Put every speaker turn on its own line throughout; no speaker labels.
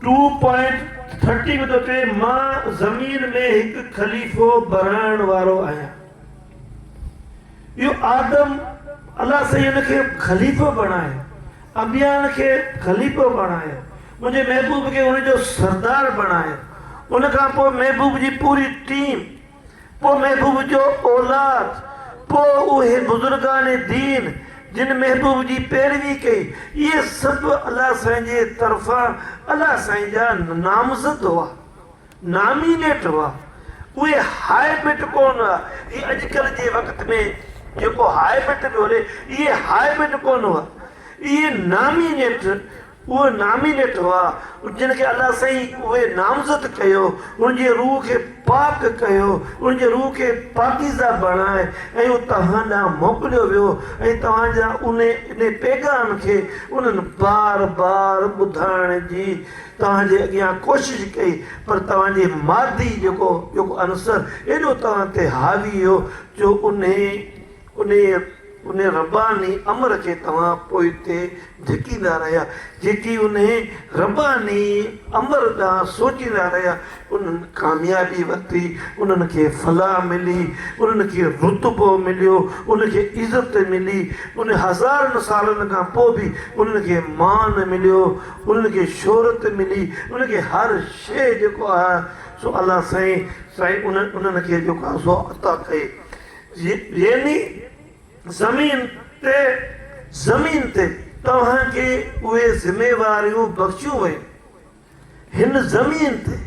Two point thirty ۾ ٿو چوي مان زمين ۾ هڪ خليفو بڻائڻ وارو آهيان اهو آدم الله سائين ان کي خليفو بڻائي انبيائن کي خليفو بڻائي منهنجي محبوب کي ان جو سردار بڻائي ان کان پوء محبوب جي پوري ٽيم پوء محبوب جو اولاد، پوء اهي بزرگان دين جن محبوب جي پيروي ڪئي، اهي سڀ الله سائين جي طرفان الله سائين جا نامزد هئا، نامينيٽ هئا، اهي هاء بٽ ڪونه هئا، هي اڄڪلهه جي وقت ۾ جيڪو هاء بٽ پيو هلي، اهي هاء بٽ ڪونه هئا، اهي نامينيٽ اهي نامينيٽ هئا جن کي الله سائين اهي نامزد ڪيو انهن جي روح کي پاڪ ڪيو انهن جي روح کي پاڪيزه بڻائي ۽ اهو توهان ڏانهن موڪليو ويو ۽ توهان جا انهي انهي پيغام کي انهن بار بار ٻڌائڻ جي توهان جي اڳيان ڪوشش ڪئي پر توهان جي مادي جيڪو جيڪو عنصر ايڏو توهان تي حاوي هو جو انهي انهيء انهيء رباني امر کي توهان پوئتي ڌڪيندا رهيا، جيڪي انهيء رباني امر ڏانهن سوچيندا رهيا، انهن ڪاميابي ورتي، انهن کي فلاح ملي، انهن کي رتبو مليو، انهن کي عزت ملي، انهن هزارن سالن کان پوء به انهن کي مان مليو، انهن کي شهرت ملي، انهن کي هر شيء جيڪو آهي سو الله سائين سائين انهن کي جيڪو آهي سو عطا ڪئي. يعني زمين تي زمين تي توهان کي اهي ذميواريون بخشيون ويون هن زمين تي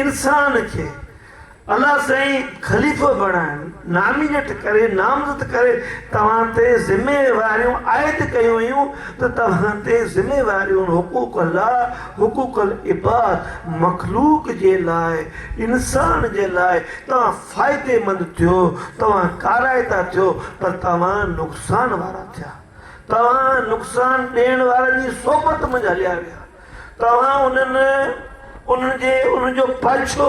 انسان کي الله سائين خليفو بڻائڻ نامينيٽ ڪري نامزد ڪري توهان تي ذميواريون عائد ڪيون ويون ته توهان تي ذميواريون حقوق الله حقوق العباد مخلوق جي لاء انسان جي لاء توهان فائديمند ٿيو توهان ڪارائتا ٿيو پر توهان نقصان وارا ٿيا توهان نقصان ڏيڻ وارن جي صحبت منجھ هليا ويا توهان انهن انهن جي انهن جو پاڇو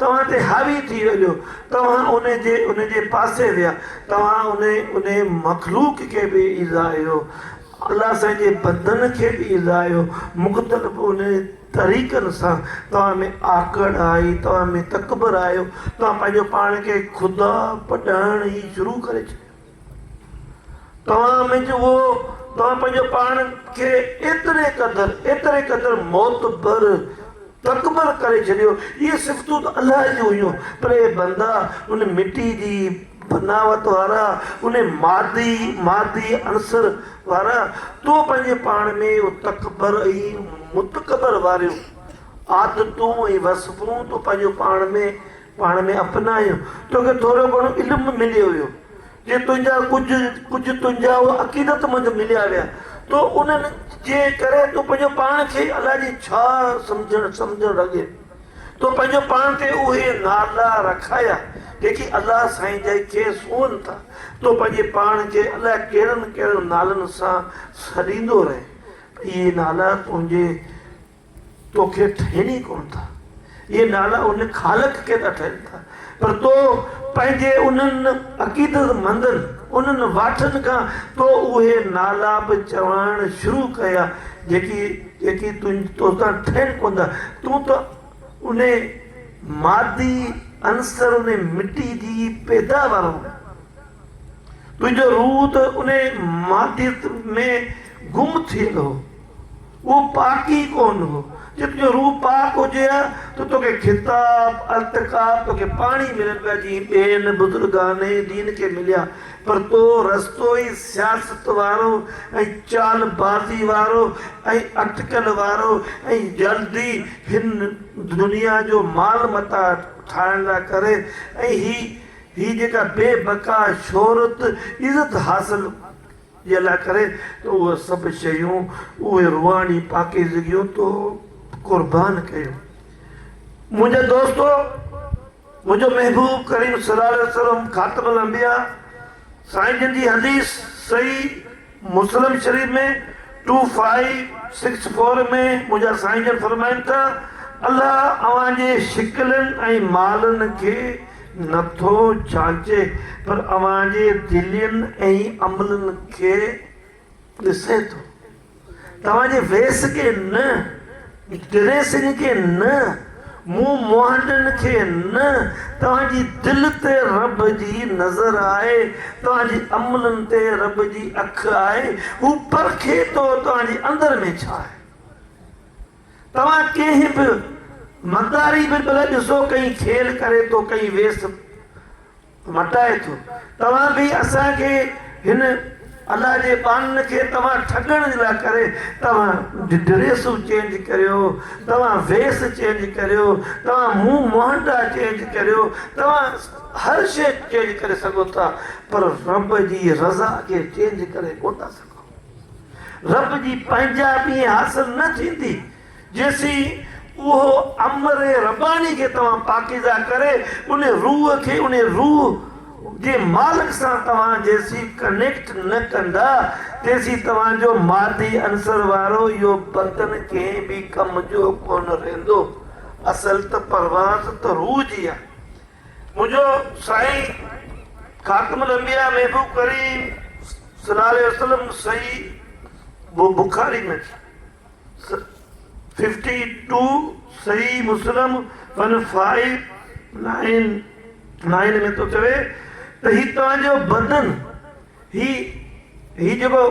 توهان تي حاوي ٿي هليو توهان انهن جي انهن جي پاسي ويا توهان انهن انهن مخلوق کي به ايذايو الله سائين جي بندن کي به ايذايو مختلف انهن طريقن سان توهان ۾ آڪڙ آئي، توهان ۾ تڪبر آيو، توهان پنهنجو پاڻ کي خدا پڏائڻ ئي شروع ڪري ڇڏيو. توهان منجهه اهو توهان پنهنجو پاڻ کي ايتري قدر ايتري قدر معتبر تڪبر ڪري ڇڏيو. اهي صفتون ته الله جون هيون پر اي بندا ان مٽي جي بناوت وارا ان مادي مادي عنصر وارا تو پنهنجي پاڻ ۾ اهو تڪبر ۽ متڪبر واريون عادتون ۽ وصفون تو پنهنجو پاڻ ۾ پاڻ ۾ اپنايو توکي ٿورو گهڻو علم مليو ويو جي تنهنجا ڪجهه ڪجهه تنهنجا اهو عقيدت مند مليا ويا تو انهن جي ڪري تو پنهنجو پاڻ کي الاء جي ڇا سمجهڻ سمجهڻ لڳين تو پنهنجو پاڻ تي اهي نالا رکايا جيڪي الله سائين جا ئي کيس هئن ٿا. تو پنهنجي پاڻ کي الاء ڪهڙن ڪهڙن نالن سان سڏيندو رهين پر اهي نالا تنهنجي توکي ٺهين ئي ڪونه ٿا. اهي نالا ان خالق کي ٿا ٺهين ٿا. پر تو پنهنجي انهن عقيدت مندن، انهن واٺن کان تو اهي نالا به چوائڻ شروع ڪيا جيڪي جيڪي توتان ٺهن ڪوندا. تون ته انهي مادي عنصر انهي مٽي جي پيداوار هون. تنهنجو روح ته انهي ماديت ۾ گم ٿيل هو. اهو پاڪ ئي ڪونه هو. جيڪو جو روح پاڪ هجي ها ته توکي خطاب، التقاب، توکي پاڻهي ملن پيا جيئن ٻين بزرگان دين کي مليا. پر تو رستو ئي سياست وارو ۽ چال بازي وارو ۽ اٽڪل وارو ۽ جلدي هن دنيا جو مال متاع ٺاهڻ لاء ڪري ۽ هي هي جيڪا بي بقا شهرت، عزت حاصل جي الله ڪري ته اهي سڀ شيون، اهي روحاني پاڪيزگيون تو قربان ڪيون. منهنجي دوستو! منهنجو محبوب ڪريم صلي الله عليه وسلم خاتم الانبياء سائين جن جي حديث صحيح مسلم شريف ۾ ٽو فائيو سڪس فور ۾ منهنجا سائين جن فرمائن ته الله اوهان جي شڪلين ۽ مالن کي نٿو جانچي پر اوهان جي دلين ۽ عملن کي ڏسي ٿو. توهان جي ويس کي نه، ڊريسنگ کي نه، منهن مهانڊن کي نه، توهان جي دل تي رب جي نظر آهي، توهان جي عملن تي رب جي اک آهي، هو پرکي ٿو توهان جي اندر ۾ ڇا آهي. توهان ڪنهن به مداري به ڀلا ڏسو ڪئين کيل ڪري ٿو ڪئين ويس مٽائي ٿو توهان به اسان کي هن الله جي ٻانهن کي توهان ٺڳڻ جي لاء ڪري توهان ڊريسون چينج ڪريو توهان ويس چينج ڪريو توهان منهن مهنڊا چينج ڪريو توهان هر شيء چينج ڪري سگهو ٿا پر رب جي رضا کي چينج ڪري ڪونه ٿا سگهو رب جي پنهنجائپي ائين حاصل نه ٿيندي، جيسين اهو امر رباني کي توهان پاڪيزه ڪري ان روح کي ان روح جي مالڪ سان توهان جيسين ڪنيڪٽ نه ڪندا، تيسين توهان جو مادي عنصر وارو اهو بدن ڪنهن به ڪم جو ڪونه رهندو. اصل ته پرواز ته روح جي آهي. منهنجو سائين خاتم الانبياء محبوب ڪريم صلي الله عليه وسلم صحيح بخاري ۾ ففٽي ٽو صحيح مسلم ون فائيو نائن نائن ۾ ٿو چوي ته هي توهان جو بدن هي هي جيڪو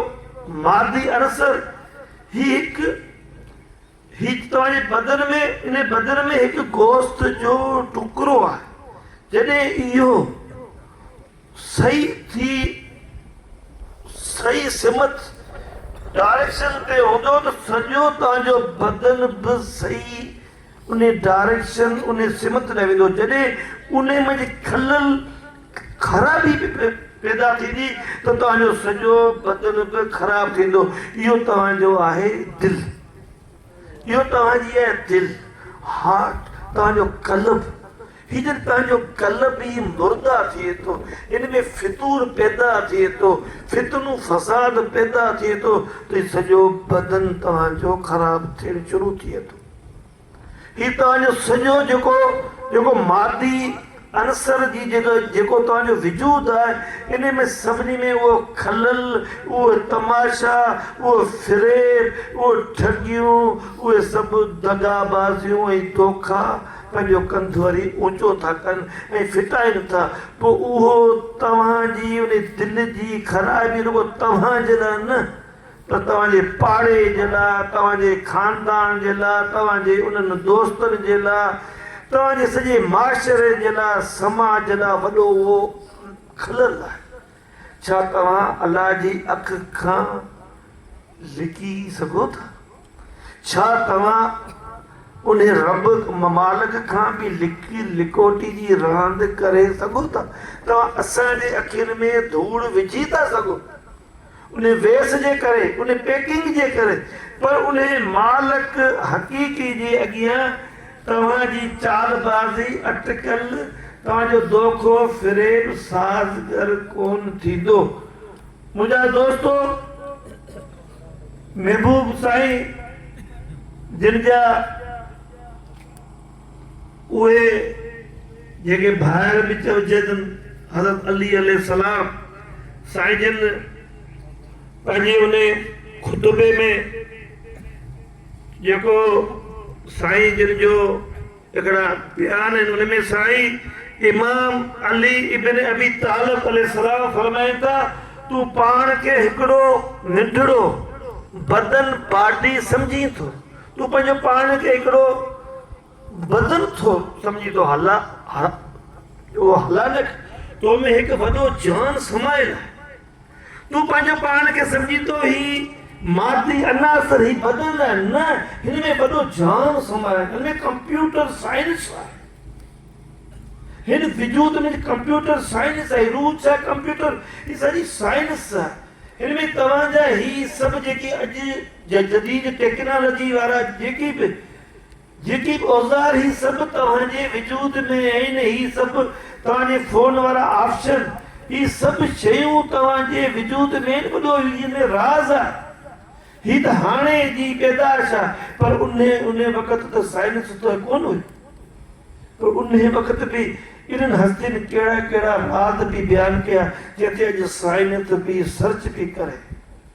مادي عنصر هي هڪ هيڪ توهان بدن ۾ ان بدن ۾ هڪ گوشت جو ٽڪرو آهي جڏهن اهو صحيح ٿي صحيح سمت ڊائريڪشن تي هوندو ته سڄو توهان جو بدن به صحيح ان ڊائريڪشن ان سمت ۾ ويندو جڏهن ان ۾ خلل خرابي پيدا ٿيندي ته توهان جو سڄو بدن به خراب ٿيندو اهو توهان جو آهي دل. اهو توهان جي اها دل، Heart، توهان جو قلب، هي جڏهن پنهنجو قلب ئي مرده ٿئي ٿو، ان ۾ فتور پيدا ٿئي ٿو، فتنو فساد پيدا ٿئي ٿو ته سڄو بدن توهان جو خراب ٿيڻ شروع ٿئي ٿو. هي توهان جو سڄو جيڪو جيڪو مادي عنصر جي جيڪو جيڪو توهان جو وجود آهي انهي ۾ سڀني ۾ اهو خلل اهو تماشا اهو فريب اهو ٺڳيون اهي سڀ دغا بازيون ۽ دوکا پنهنجو ڪنڌ وري اوچو ٿا ڪن ۽ ڦٽائين ٿا پوء اهو توهان جي انهي دل جي خرابي رڳو توهان جي لاء نه ته توهان جي پاڙي جي لاء، توهان جي خاندان جي لاء، توهان جي انهن دوستن جي لاء، توهان جي سڄي معاشري جي لاء، سماج جي لاء وڏو اهو خلل آهي. ڇا توهان الله جي اک کان لڪي سگهو ٿا؟ ڇا توهان انهي رب مالڪ کان به لڪي لڪوٽي جي راند ڪري سگهو ٿا؟ توهان اسان جي اکين ۾ ڌوڙ وجهي ٿا سگهو؟ ان ويس جي ڪري، ان پيڪنگ جي ڪري، پر انهي مالڪ حقيقي جي اڳيان توهان جي چالبازي، اٽڪل، توهان جو دوکو، فريب، سازگر ڪون ٿيندو. منهنجا دوستو! محبوب سائين جن جا. اهي جيڪي ڀائر به چئجي تن حضرت علي عليه السلام سائين جن پنهنجي ان خطبي ۾ جيڪو سائين جن جو هڪڙا بيان آهن ان ۾ سائين امام علي ابن ابي طالب عليه السلام فرمائن ٿا تون پاڻ کي هڪڙو ننڍڙو بدن باڊي سمجهين ٿو تون پنهنجو پاڻ کي هڪڙو بدن ٿو سمجهين تو هلا اهو هلانڪ تو ۾ هڪ وڏو جان سمايل آهي تون پنهنجو پاڻ کي سمجهين ٿو هي مادي عناصر هي بدن آهي نه هن ۾ وڏو جان سمايل هن ۾ ڪمپيوٽر سائنس آهي هن وجود ۾ ڪمپيوٽر سائنس آهي روح ڇا ڪمپيوٽر هي ساري سائنس آهي هن ۾ توهان جا هي سڀ جيڪي اڄ جا جديد ٽيڪنالاجي وارا جيڪي به جيڪي به اوزار هي سڀ توهان جي وجود ۾ آهن هي سڀ توهان جي فون وارا آپشن هي سڀ شيون توهان جي وجود ۾ آهن ٻڏو هي جن ۾ راز آهي هي ته هاڻي جي پيدائش آهي پر انهي انهي وقت ته سائنس ته ڪون هئي پر انهي وقت به انهن هستين ڪهڙا ڪهڙا راز به بيان ڪيا جن تي اڄ سائنس به سرچ پي ڪري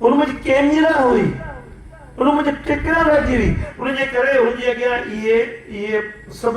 ان منهنجي ڪينجهرا هئي، ان منهنجي ٽڪرا رهجي هئي، انهيء ڪري هن جي اڳيان اهي اهي سڀ